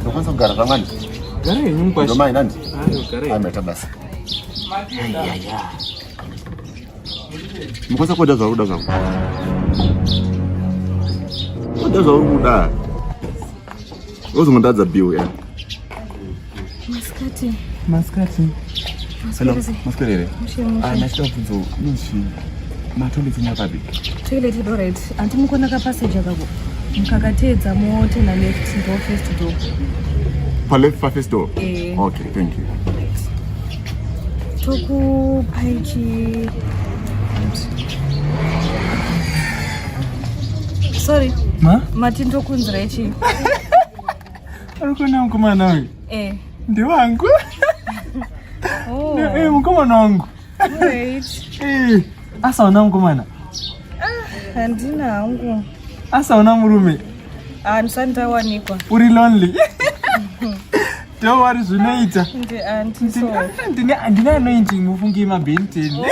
ndokwanisa kugara zvamani ndomai nani aimeta basa mukwanisa kuoda zvauri kuda zvangu oda zvauri kuda Uzongotadza bill ya. Maskati. Maskati. Hello, maskati here? Ah, ndachita kubvunza nozvi matoilet nya papi? Toilet ido right. Anti mukona ka passage akako. Mukakateedza mote na left door first door. Pa left pa first door? Eh. Okay, thank you. Tokupaiti. Sorry. Ma? Mati ndokunzira ichi. Ari kuona mukomana uyu? Eh. Ndiwangu. Oh. Eh, mukomana wangu. Wait. Eh, asaona mukomana. Ah, handina hangu. Asaona murume. Ah, ndisandawanikwa. Uri lonely. Don't worry, zvinoita. Ndi auntie so. Ndine ndine anointi mufungi mabhenteni. Oh.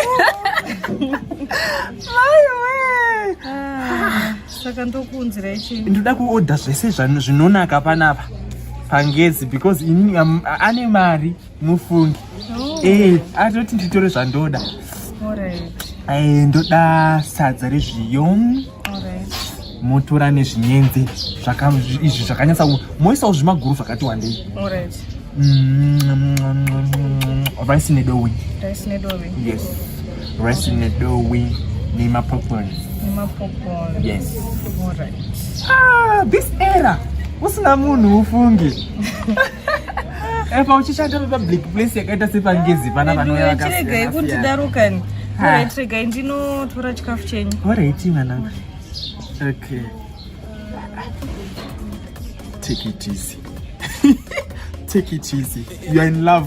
Mai we. Ah, saka ndokuunzira ichi. Ndoda kuorder zvese zvano zvinonaka panapa. Pangezi because ini um, ane mari mufungi. Oh. Eh, atoti nditore zvandoda. Alright. Eh, ndoda sadza rezviyo. motora nezvinyenzi izvi zvakanyatsa moisawo zvimaguru zvakati wandei rice nedowi yes rice nedowi nemapopcorn yes ah, this era usina munhu ufunge Eh, pauchishanda papublic place yakaita sepangezi pana vanouya vakachiregai kundidaro kani orit regai ndinotora chikafu chenyu orit mwanangu okay take it easy take it easy you're in love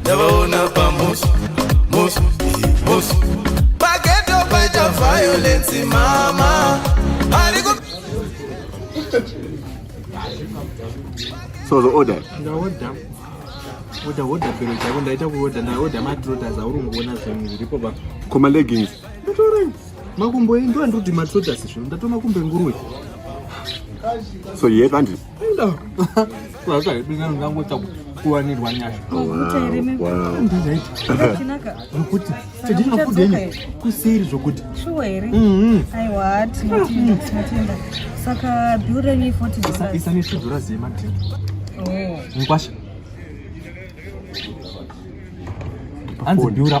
ndavaona pamusi musi musi pageto paita violence mama ariku so the order ndaoda oda oda bhero chako ndaita kuoda ndaoda matrotas auri kungoona zvinhu zviripo pa koma leggings ndatorai makumbo endiwa ndoti matrotas zvino ndatona kumbe nguruwe so yet andis kuwanirwa nyasha nokuti tadii mafuta enyu kuseri zvokuti isanesvedzora zema mukwasha hanzi biura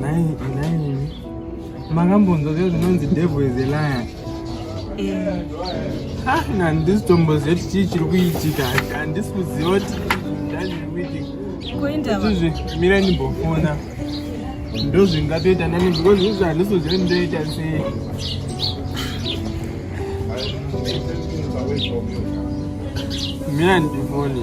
Nhai, nhai. Makambonzwa zve zvinonzi devil is a liar. Eh. Ah, handisi tombozeti chii chiri kuitika. Handisi kuziva kuti ndazviri kuitika. Kuenda va. Izvi mira ndimbofona. Ndozvingatoita nani because izvi handisi kuziva ndoita sei. Mira ndifone.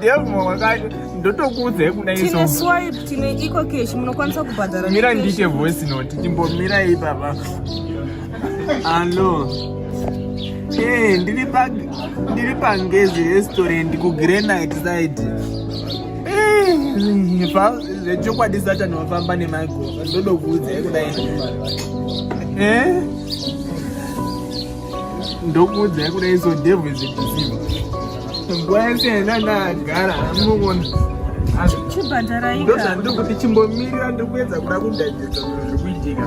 Devil wakati ndotokuudzai kuda iso. Tine swipe, tine eco cash munokwanisa kubhadhara. Mira ndiite voice note, timbomira iyi baba. Hello. Eh, ndiri pa ndiri pa Ngezi restaurant ku Granite side. Eh, pa zvechokwadi Satan wafamba nemagoza ndodokuudzai kuda iso. Eh? ndokuudzai kuda iso devil is a deceiver nguva yese yenda ndagara hamunoona ndozvandiri kuti chimbomirira ndiri kuedza kuda kudadidza zviri kuitika